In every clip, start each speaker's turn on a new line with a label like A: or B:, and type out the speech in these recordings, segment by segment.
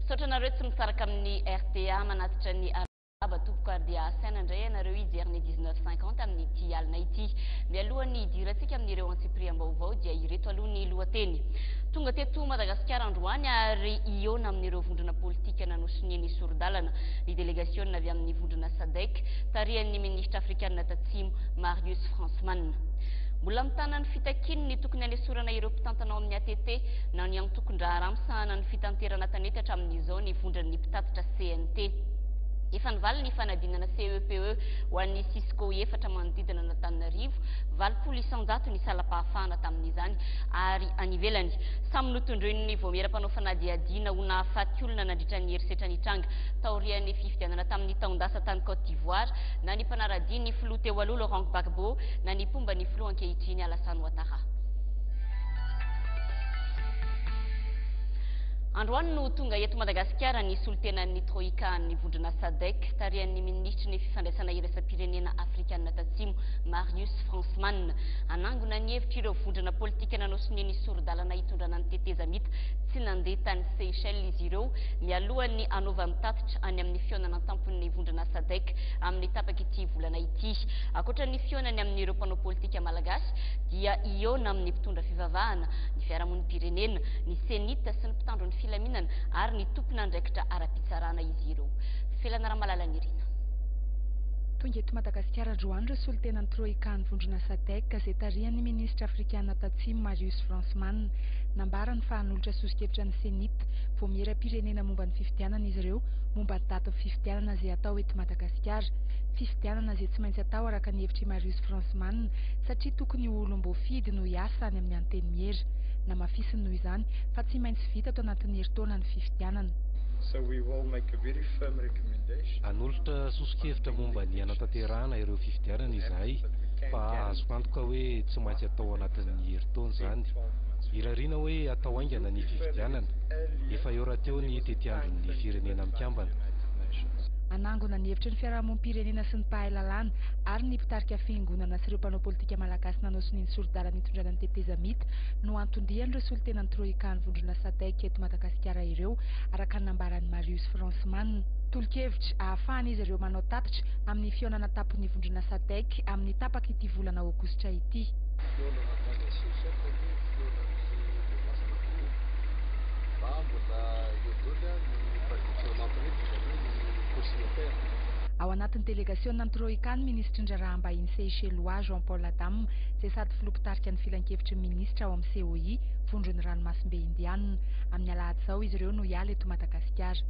A: Misaotra anareo tsy misaraka amin'ny RTA manatitra ny araba tompoko ary dia asaina indray ianareo hijery ny 1950 amin'ity alina ity. Mialoha ny hidirantsika amin'ireo antsipiriam-baovao dia ireto aloha ny lohateny. Tonga teto Madagasikara androany ary hihaona amin'ireo vondrona politika nanosoniany soridalana. ny delegasiona avy amin'ny vondrona Sadec tarihan'ny minisitra afrikanina Tatsimo Marius Fransman. Mbola mitana ny fitakiany ny tokony hanesorana ireo mpitantana ao amin'ny ATT na ny antokon-draharaha misahana ny fitanterana tanety hatramin'izao ny vondran'ny mpitatitra CNT. Efa nivaly ny fanadinana CEPE e ho an'ny Cisco efatra manodidina an'Antananarivo, valopolo isanjato ny salam-pahafahana tamin'izany ary any ivelany. Samy notondroin'ny vaomiera mpanao fanadihadiana ho nahafaty olona nandritra ny herisetra nitranga taorian'ny fifidianana tamin'ny taon-dasa tany Côte d'Ivoire, na ny mpanara-dia ny filoha teo aloha Laurent Gbagbo, na ny mpomba ny filoha ankehitriny Alassane Ouattara. Androany no tonga eto Madagasikara ny solontenan'ny Troika an'ny vondrona Sadec, tarihan'ny minisitry ny fifandraisana iraisam-pirenena afrikanina tatsimo, Marius Fransman. Hanangona ny hevitr'ireo vondrona politika nanao sonia ny sori-dalana hitondrana ny tetezamita tsy nandeha tany Seychelles izy ireo, mialohan'ny hanaovany tatitra any amin'ny fihaonana an-tampon'ny vondrona Sadec amin'ny tapak'ity volana ity. Ankoatra ny fihaonany amin'ireo mpanao politika malagasy dia hihaona amin'ny mpitondra fivavahana, ny fiarahamonim-pirenena, ny CENI-T sy ny mpitandro ny filaminana ary ny tompon'andraikitra ara-pitsarana izy ireo. Felana Ramalalanirina. Tonga eto Madagasikara androany ireo solontenan'ny Troika an'ny vondrona Sadec izay tarihan'ny minisitra afrikana Tatsimo Marius Fransman. Nambarany fa hanolotra soso-kevitra ny CENI-T, Vaomieram-pirenena momba ny fifidianana izy ireo, momba datin'ny fifidianana izay hatao eto Madagasikara. Fifidianana izay tsy maintsy atao araka ny hevitr'i Marius Fransman, satria tokony ho olom-boafidy no hiasa any amin'ny Antenimiera. Namafisiny noho izany, fa tsy maintsy vita ato anatin'ny herintaona ny fifidianana. So we will make a very firm recommendation. Hanolotra soso-kevitra momba ny hanatanterahana ireo fifidianana izahay, fa azoko antoka hoe tsy maintsy atao anatin'ny herintaona izany. Irariana hoe hatao haingana ny. fifidianana, efa eo rahateo ny tetiandron'ny Firenena Mikambana. Hanangona ny hevitry ny fiarahamonim-pirenena sy ny mpahay lalàna ary ny mpitarika fiangonana sy ireo mpanao politika malagasy nanao sonia ny sori-dalana hitondrana ny tetezamita no anton-dian'ireo solontenan'ny Troïka ny vondrona Sadec eto Madagasikara ireo, araka ny nambaran'i Marius Fransman. Tolo-kevitra hahafahan'izy ireo manao tatitra amin'ny fihaonana an-tampon'ny vondrona Sadec amin'ny tapak'ity volana aogositra ity. Ao anatin'ny delegasiônan'ny Troïka ny minisitry ny Raharaham-bahiny Seychellois Jean Paul Adam, izay sady filoha mpitarika ny Filankevitry ny Minisitra ao amin'ny COI, Vondron'ny Ranomasimbe Indianina. Amin'ny alahady izao izy ireo no hiala eto Madagasikara.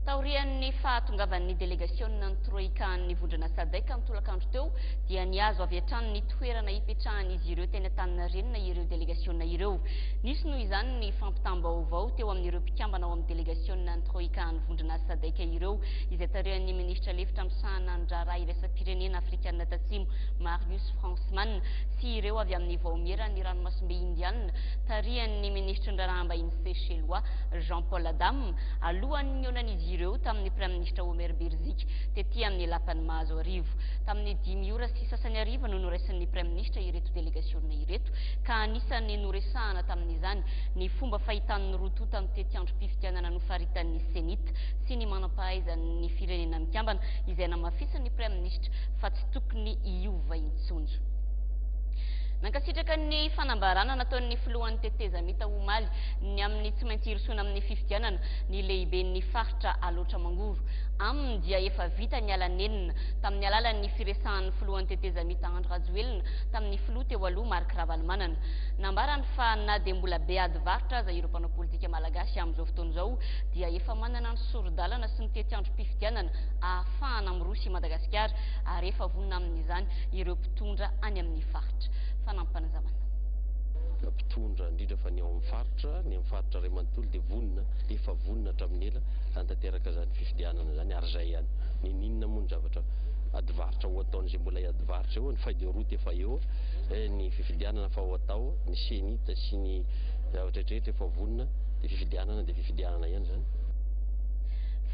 A: Taorian'ny fahatongavan'ny delegasiônan'ny Troïka an'ny Vondrona Sadec ny tolakandro teo dia nihazo avy hatrany ny toerana ipetrahan'izy ireo teny Antaninarenina ireo delegasiona ireo. Nisy noho izany ny fampitam-baovao teo amin'ireo mpikambana ao amin'ny delegasiona ny Troika an'ny vondron'asa Sadec ireo izay tarihan'ny minisitra lefitra misahana ny raharaha iraisam-pirenena afrikana tatsimo Marius Fransman sy ireo avy amin'ny vaomieran'ny ranomasimbe Indiana tarihan'ny minisitry ny raharaham-bahiny Sechelois Jean Paul Adam alohan'ny nionan'izy ireo tamin'ny praiministra Omer Birzik tety amin'ny lapan'ny mahazo arivo tamin'ny dimy ora sy sasany ariva no noraisin'ny praiministra ireto delegasiona Ina ireto, ka anisan'ny noresahana tamin'izany ny fomba fahitan'ny roa tonta ny tetiandrom-pifidianana nofaritan'ny Cenit sy ny manam-pahaizan'ny Firenena Mikambana izay namafisin'ny Praiminisitra fa tsy tokony hiova intsony. Nankasitraka ny fanambarana nataon'ny Filohan'ny Tetezamita omaly ny amin'ny tsy maintsy hirosoana amin'ny fifidianana ny Lehiben'ny Faritra Alaotra Mangoro. Aminy dia efa vita ny ala nenina tamin'ny alalan'ny firesahan'ny Filohan'ny Tetezamita Andry Rajoelina tamin'ny filoha teo aloha Marc Ravalomanana. Nambarany fa na dia mbola be ady varotra aza ireo mpanao politika malagasy amin'izao fotoana izao dia efa manana ny sori-dalana sy ny tetiandrom-pifidianana ahafahana miroso i Madagasikara ary efa vonona amin'izany ireo mpitondra any amin'ny faritra. Fanampanazavana. mpitondra indrindra fa ny ao amin'ny faritra, ny amin'ny faritra iray manontolo dia vonona, efa vonona hatramin'ny ela hanatanteraka izany fifidianana izany ary izay ihany. Niniana moa ny zavatra ady varotra ho ataon'izay mbola varotra eo, ny feuille de route efa eo, eh, ny fifidianana fa ho atao, ny CENIT sy ny zavatra rehetra efa vonona, dia fifidianana dia fifidianana ihany zany.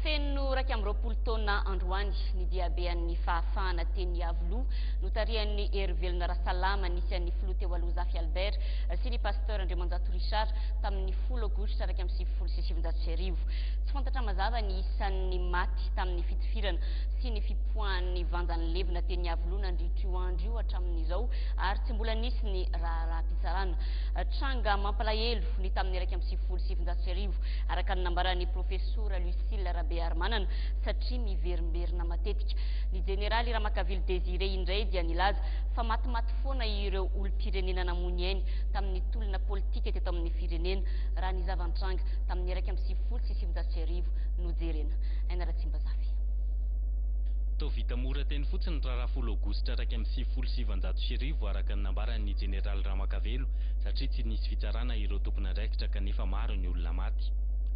A: Feno raika amby roapolo taona androany ny diabean'ny fahafahana teny Iavoloha notarihan'ny Hery Velona Rasalama nisy an'ny filoha teo aloha Zafy Albert sy ny pasteur Andriamanjato Richard tamin'ny folo aogositra iraika amby sivifolo sy sivinjato sy arivo. Tsy fantatra mazava ny isan'ny maty tamin'ny fitifirana sy ny Foahan'ny vanja nilevina teny Iavoloha nandritra io andro io hatramin'izao ary tsy mbola nisy ny raharaham-pitsarana. Tranga mampalahelo ny tamin'ny iraika amby sivifolo sy sivinjato sy arivo, araka ny nambaran'ny Profesora Lucile Rabearimanana, satria miverimberina matetika. Ny Jeneraly Ramakavily Désiré indray dia nilaza fa matimaty foana ireo olom-pirenena namoy ny ainy tamin'ny tolona politika teto amin'ny firenena, raha ny zava-nitranga tamin'ny iraika amby sivifolo sy sivinjato sy arivo no jerena. Aina Ratsimbazafy. Toa vita mora teny fotsiny ny raharaha folo aogositra iraika amby sivifolo sy sivinjato sy arivo araka ny nambaran'ny jeneraly Ramakavelo satria tsy nisy fitsarana ireo tompon'andraikitra kanefa maro ny olona maty.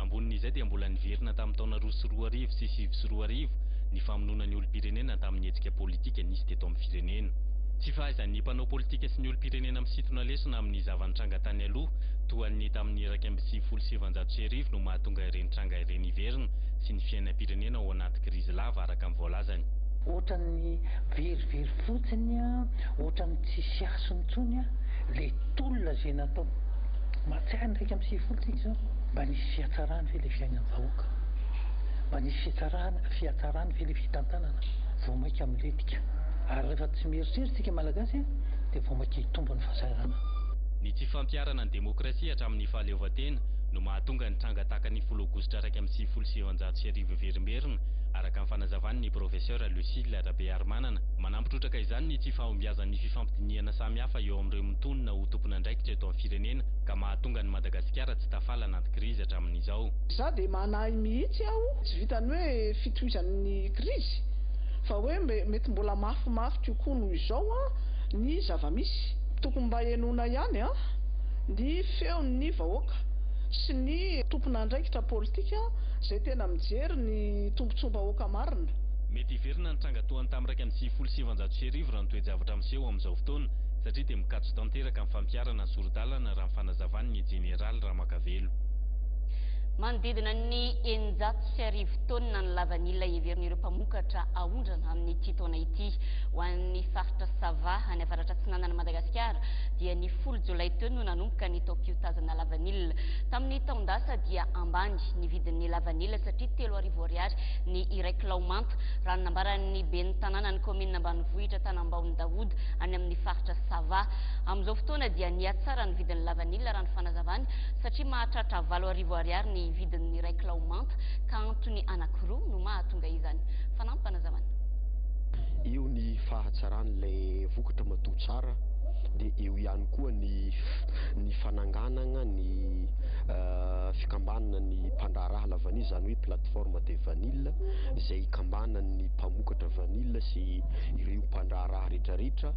A: Ambonin'izay dia mbola niverina tamin'ny taona roa sy roa arivo sy sivy sy roa arivo ny famonoana ny olom-pirenena tamin'ny hetsika politika nisy teto amin'ny firenena. Tsy fahaizan'ny mpanao politika sy ny olom-pirenena misintona lesona amin'ny zava-nitranga tany aloha toa an'ny tamin'ny iraika amby sivifolo sy sivinjato sy arivo no mahatonga ireny tranga ireny hiverina sy ny fiainam-pirenena ao anaty krizy lava araka ny voalazany. Ohatran'ny verivery fotsiny a, ohatran'ny tsisy hasiny intsony a, ilay tolona izay natao. Mahatsiaro ny iraika amby sivifolo tsika izao, mba nisy fihatsarany ve ilay fiainam-bahoaka? Mba nisy fihetsarana, fihatsarany ve ilay fitantanana? Vao mainka milentika. Ary rehefa tsy mieritreritra isika Malagasy a, dia vao mainka hitombo ny fahasahirana. Ny tsy fampiharana ny demokrasia hatramin'ny fahaleovantena no mahatonga ny tranga tahaka ny folo aogositra iraika amby sivifolo sy sivinjato sy arivo izao. miverimberina, araka ny fanazavan' ny Profesera Lucile Rabearimanana. Manampy trotraka izany ny tsy fahombiazan' ny fifampidinihana samihafa eo amin' ireo mitonona ho tompon' andraikitra eto amin'ny firenena ka mahatonga an'i Madagasikara tsy tafala anaty krizy hatramin' izao. Za dia manahy mihitsy aho, tsy vitan'ny hoe fitohizan'ny krizy, fa hoe mety mbola mafimafy kokoa noho izao ny zava-misy. Tokony mba henoina ihany ny feon'ny vahoaka sy ny tompon'andraikitra politika. Zay tena mijery ny tombotsoam-bahoaka marina. Mety hiverina ny tranga toa ny tamin'ny iraika amby sivifolo sy sivanjato sy arivo raha ny toe-javatra miseho amin'izao fotoana satria dia mikatso tanteraka ny fampiharana ny sori-dalana raha ny fanazavan'ny Jeneraly Ramakavelo. Manodidina ny eninjato sy arivo taonina ny lavanila heverin'ireo mpamokatra aondrana amin'ity taona ity. Ho an'ny faritra Sava, any avaratra atsinanan'i Madagasikara, dia ny folo jolay teo no nanomboka ny taom-piotazana lavanila. Tamin'ny taon-dasa dia ambany. mihitsy ny vidin'ny lavanila satria telo arivo ariary ny iray kilao manta, raha ny nambaran'ny ben'ny tanànan'ny kaominina ambanivohitra Tanambao Ndaouda any amin'ny faritra Sava. Amin'izao fotoana dia nihatsara ny vidin'ny lavanila raha ny fanazavany satria mahatratra valo arivo ariary ny vidin'ny iray kilao manta ka antony anankiroa no mahatonga izany. Fanampy fanazavana. Eo ny fahatsaran'ilay vokatra matoa tsara dia eo ihany koa ny ny fananganagna ny fikambanana ny mpandraharaha la vanille izany hoe plateforme de vanille izay ikambanan'ny mpamokatra vanille sy ireo mpandraharaha rehetrarehetra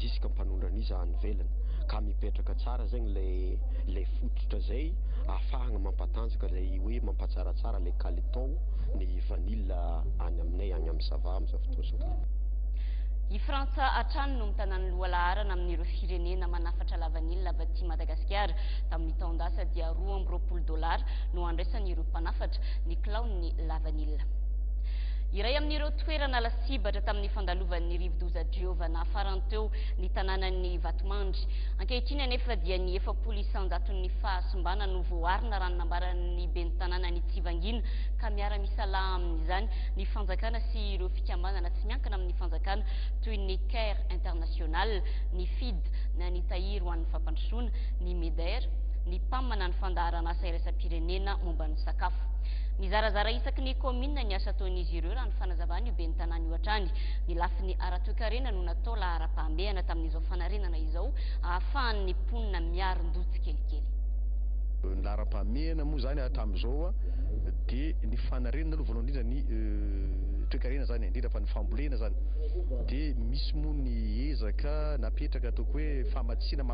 A: ziska mpanondranisa any velany ka mipetraka tsara zegny le le fototra zay afahagna mampatanjaka lay hoe mampatsaratsara le kalitao ny vanille any aminay agny amin'ny sava am'izao fotoazao I Frantsa hatrany no mitana ny lohalaharana amin'ireo firenena manafatra lavanila avy aty Madagasikara. Tamin'ny taon-dasa dia roa amby roapolo dolara no andraisan'ireo mpanafatra ny kilaon'ny lavanila. Iray amin'ireo toerana lasibatra tamin'ny fandalovan'ny rivodoza Giovanna farany teo ny tanànan'i Vatomandry. Ankehitriny anefa dia ny efapolo isanjaton'ny fahasimbana no voaarina raha ny nambaran'ny ben'ny tanànan'i Tsivangina ka miara-misalaha amin'izany ny fanjakana sy ireo fikambanana tsy miankina amin'ny fanjakana toy ny Care International, ny FID na ny Tahiry ho an'ny fampandrosoana ny Midair, ny Pam na ny fandaharan'asa iraisam-pirenena momba ny sakafo. Mizarazara isaky ny kaominina ny asa ataon'izy ireo raha ny fanazavan'io ben'ny tanàna io hatrany. Ny lafiny ara-toekarena no natao laharam-pahamehana tamin'izao fanarenana izao ahafahan'ny mponina miarin-doha tsikelikely. Ny laharam-pahamehana moa izany hatramin'izao dia ny fanarenana aloha voalohany indrindra ny toekarena izany indrindra fa ny fambolena izany dia misy moa ny ezaka napetraka ataoko hoe famatsiana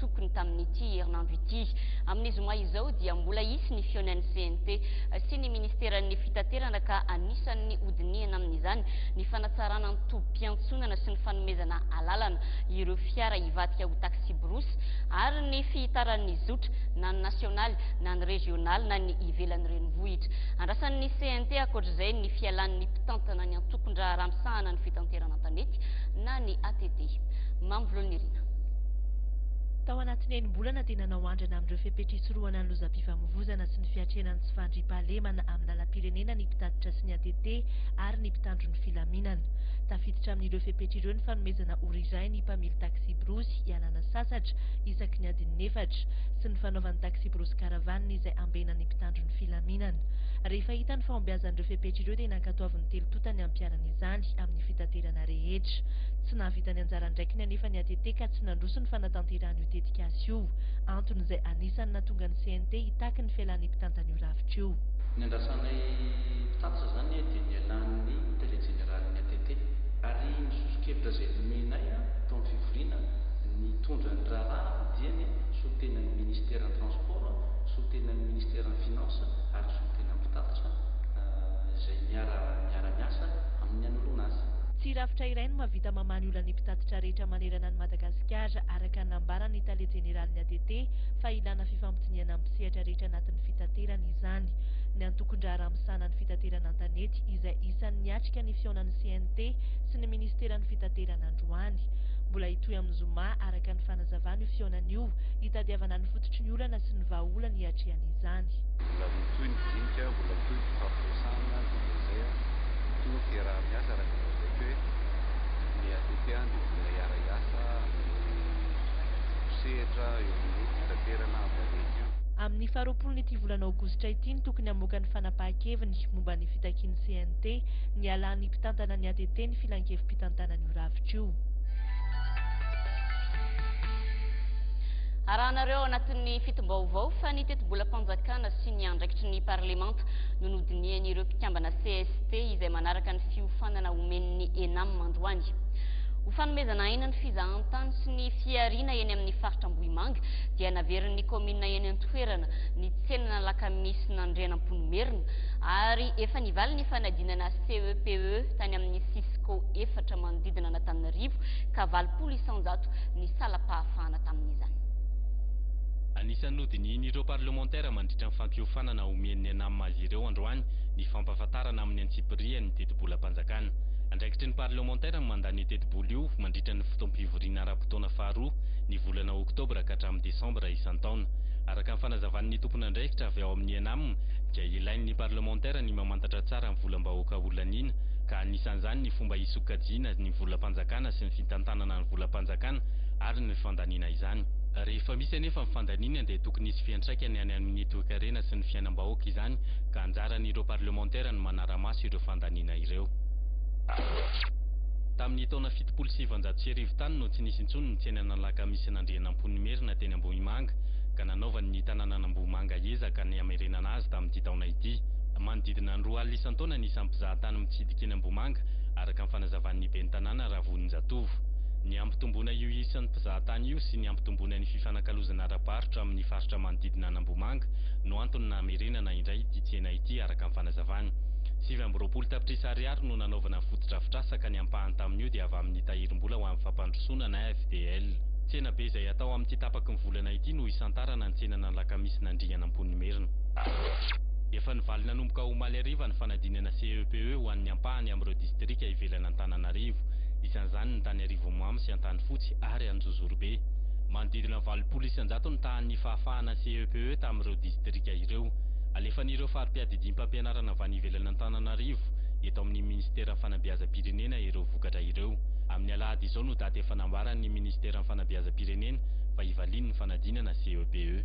A: tokony tamin'ity herinandro ity. Amin'ny zoma izao dia mbola hisy ny fihaonan'ny CNT sy ny ministeran'ny fitaterana ka anisan'ny hodinihana amin'izany ny fanatsarana ny tobim-piantsonana sy ny fanomezana alalana ireo fiara hivadika ho taxi-brousse ary ny fihitaran'ny zotra na ny nasionaly na ny rezionaly na ny ivelan'ny renivohitra. Andrasan'ny CNT ankoatr'izay ny fialan'ny mpitantana ny antokon-draharaha misahana ny fitanterana an-tanety na ny ATT. Mamy Volonirina. Tao anatin'ny enim-bolana dia nanao andrana amin'ireo fepetra hisorohana ny lozam-pifamoivoizana sy ny fiatrehana ny tsy fandriampahalemana amin'ny lalam-pirenena ny mpitatitra sy ny ATT ary ny mpitandro ny filaminana. Tafiditra amin'ireo fepetra ireo ny fanomezana ora iray ny mpamily taksiborosy hialana sasatra isaky ny adin'ny efatra sy ny fanaovan'ny taksiborosy caravane izay ambenana ny mpitandro ny filaminana. Rehefa hita ny fahombiazan'ireo fepetra ireo dia nankatoavin'ny telotota ny hampiharana izany amin'ny fitaterana rehetra. Tsy nahavita ny anjara andraikiny anefa ny ATT Tee ka tsy nandroso ny fanatanterahana io tetikasa io. Antony izay anisan'ny nahatonga ny CNT hitaky ny fialan'ny mpitantan'io rafitra io. Niandrasanay mpitatitra izany anie dia nialan'ny Tale Jeneralin'ny ATT ary ny soso-kevitra izay nomenay tao amin'ny fivoriana nitondra ny raharaha dia ny solontenan'ny Ministeran'ny Transport, solontenan'ny Ministeran'ny Finances ary ny solontenan'ny mpitatitra izay miara-miasa amin'ny hanoloana azy. Tsy rafitra iray no mahavita mamaha ny olan'ny mpitatitra. faritra rehetra manerana an'i Madagasikara, araka ny nambaran'ny tale jeneralin'ny ATT, fa ilàna fifampidinihana amin'ny sehatra rehetra anatin'ny fitaterana izany. Ny antokon-draharaha misahana ny fitaterana an-tanety, izay isan'ny niatrika ny fihaonan'ny CNT sy ny minisiteran'ny Fitaterana androany. Mbola hitohy amin'ny zoma, araka ny fanazavana, io fihaonana io, hitadiavana ny fototry ny olana sy ny vahaolana iatrehana izany. Mbola mitohy ny dinika, mbola mitohy ny fifampiresahana, dia izay no toeramiasa, araka ny lazaiko hoe. ny ATT dia mbola hiara-hiasa amin'ny sehatra eo amin'ny fitaterana valety io. Amin'ny faharoapolon'ity volana aogositra ity no tokony hamoaka ny fanapahan-keviny momba ny fitakian'ny CNT ny hialan'ny mpitantana ny ATT ny filankevi-pitantanan'io rafitra io. Arahanareo ao anatin'ny fitim-baovao fa ny tetibolam-panjakana sy ny andraikitry ny parlemanta no nodinihan'ireo mpikambana cst izay manaraka ny fiofanana omen'ny Enam androany. Ho fanomezana aina ny fizahantany sy ny fihariana eny amin'ny faritra Ambohimanga dia naverin'ny kaominina eny an-toerana ny tsenan'Alakamisy nandrianampoinimerina ary efa nivaly ny fanadinana CEPE e tany amin'ny Cisco efatra manodidina an'Antananarivo ka valopolo isanjato ny salam-pahafahana tamin'izany. Anisan'ny nodinihin'ireo parlemantera mandritra ny fampiofanana omen'ny Enam azy ireo androany ny fampahafantarana amin'ny birihan'ny tetibolam-panjakana. Andraikitry ny parlemantera ny mandan'io tetibola io mandritra ny fotoam-pivoriana ara-potoana faharoa ny volana oktobra ka hatramin'ny desambra isan-taona. Araka ny fanazavan'ny tompon'andraikitra avy ao amin'ny Enam dia ilain'ny parlemantera ny mamantatra tsara ny volam-bahoaka ho laniana ka anisan'izany ny fomba hisokajiana ny volam-panjakana sy ny fitantanana ny volam-panjakana ary ny fandaniana izany. Rehefa misy anefa ny fandaniana dia tokony hisy fiantraikany any amin'ny toekarena sy ny fiainam-bahoaka izany ka anjaran'ireo parlemantera ny manara-maso ireo fandaniana ireo. Tamin'ny taona fitopolo sy sivinjato sy arivo tany no tsy nisy intsony ny tsenan'Alakamisin'Andrianampoinimerina teny Ambohimanga ka nanaovany ny tanànan'Ambohimanga ezaka ny hamerenana azy tamin'ity taona ity. Manodidina ny roa alina isan-taona ny isan'ny mpizahatany mitsidika eny Ambohimanga, araka ny fanazavan'ny ben'ny tanàna Ravoninjatovo. Ny hampitomboana io isan'ny mpizahatany io sy ny hampitomboana ny fifanakalozana ara-barotra amin'ny faritra manodidina an'Ambohimanga no antony nahamerenana indray ity tsena ity araka ny fanazavana. Sivy amby roapolo tapitrisa ariary no nanaovana ny fotodrafitrasa ka ny ampahany tamin'io dia avy amin'ny tahirim-bola ho amin'ny fampandrosoana na FDL. Tsena be izay atao amin'ity tapaky ny volana ity no hisantarana ny tsenana alakamisy nandringana Amponimiherina. Efa nivaly nanomboka omaly hariva ny fanadinana CEPE ho an'ny ampahany amin'ireo distrika ivelan'Antananarivo, isan'izany ny tany Arivonimamo sy Antanifotsy ary Anjozorobe. Manodidina valopolo isanjato ny tahan'ny fahafahana CEPE. DPE tamin'ireo distrika ireo. Alefan'ireo fari-piadidiam-pampianarana avy any ivelany Antananarivo eto amin'ny Minisiteran'ny Fanabeazam-pirenena ireo vokatra ireo. Amin'ny alahady izao no daty efa nambaran'ny Minisiteran'ny Fanabeazam-pirenena fa hivaliany ny fanadinana CEPE.